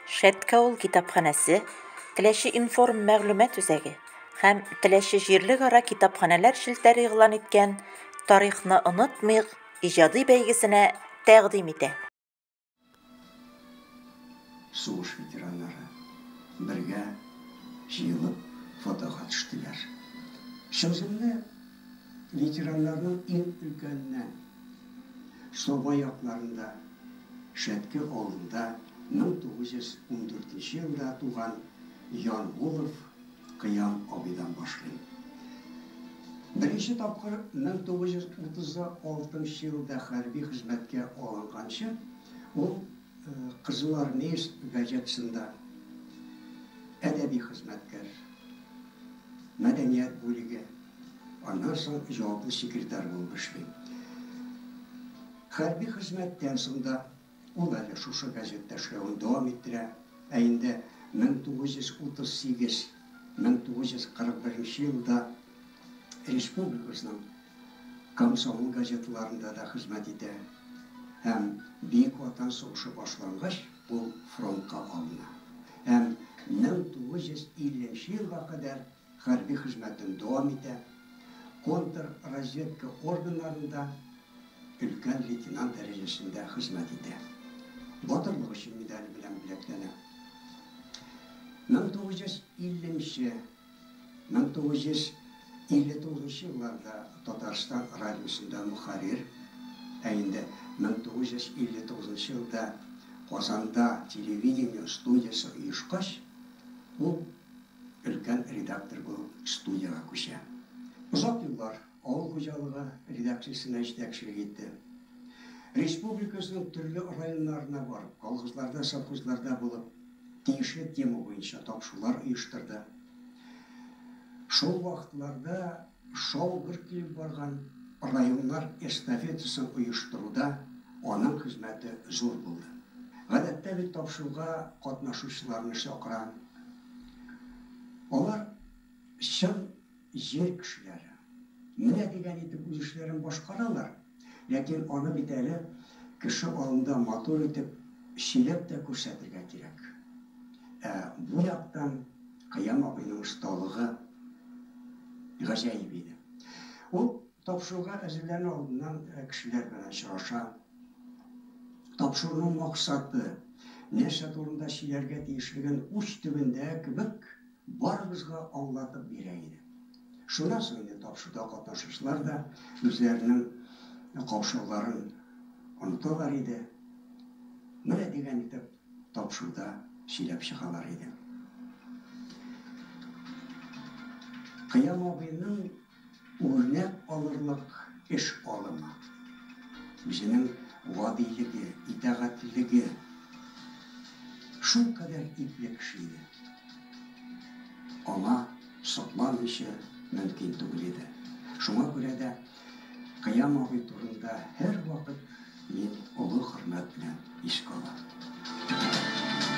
Шәткә ул китапханәсе, Теләче информ мәгълүмат үзәге һәм Теләче җирлегара китапханәләр челтәре игълан иткән Тарихны онытмыйк иҗади бәйгесенә тәкъдим итә. Сугыш ветераннары бергә җыелып фотога төштеләр. Чүземне Ветераннарның иң өлкәненә Саба якларында, Шәтке авылында 1914 нче елда туган Янгулов Кыям абыйдан башлыйм. Беренче тапкыр 1936 нчы елда хәрби хезмәткә алынганчы, ул, Кызыл армеец газетасында әдәби хезмәткәр, мәдәният бүлеге, аннан соң җаваплы секретарь булып эшли. Хәрби хезмәттән соң да ул әле шушы газетта эшләвен дәвам иттерә. Ә инде 1938-1941 елда республикабызның Комсомол газеталарында да хезмәт итә һәм Бөек Ватан сугышы башлангач, ул фронтка алына һәм 1950 нче елга кадәр хәрби хезмәтен дәвам итә, контрразведка органнарында өлкән лейтенант дәрәҗәсендә хезмәт итә. Батырлык өчен медале белән бүләкләнә. 1950 нче Мең тугыз йөз илле тугызынчы елларда Татарстан радиосында мөхәррир, ә инде мең тугыз йөз илле тугызынчы елда Казанда телевидение студиясе оешкач, ул өлкән редактор булып студиягә күчә. Озак еллар. Авыл хуҗалыгы редакциясенә җитәкчелек итте. Республикасының төрле районнарына барып, колхозларда, совхозларда булып, тиешле тема буенча тапшырулар оештырды. Шул вакытларда шау-гөр килеп барган районнар эстафетасын оештыруда аның хезмәте зур булды. Гадәттә бит тапшыруга катнашучыларны чакыраң, алар чын Җир кешеләре менә дигән итеп үз эшләрен башкаралар, ләкин аны бит әле кеше алдында матур итеп сөйләп тә күрсәтергә кирәк. Ә бу яктан Кыям абыйның осталыгы гаҗәеп иде. Ул тапшыруга әзерләнү алдыннан кешеләр белән очраша, тапшыруның максаты, нәрсә турында сөйләргә тиешлеген уч төбендә кебек, Барыбызга аулатып бирә иде. Шуннан соң инде тапшыруда катнашучылар да үзләренең каушауларын оныталар иде. Менә дигән итеп тапшыруда сөйләп чыгалар иде. Кыям абыйның. Үрнәк алырлык эш алымы, үзенең гадилеге, итагатьлеге шул кадәр ипле кеше иде. Аңа сокланмыйча мөмкин түгел иде. Шуңа күрә дә Кыям абый турында һәрвакыт мин олы хөрмәт белән искә алам.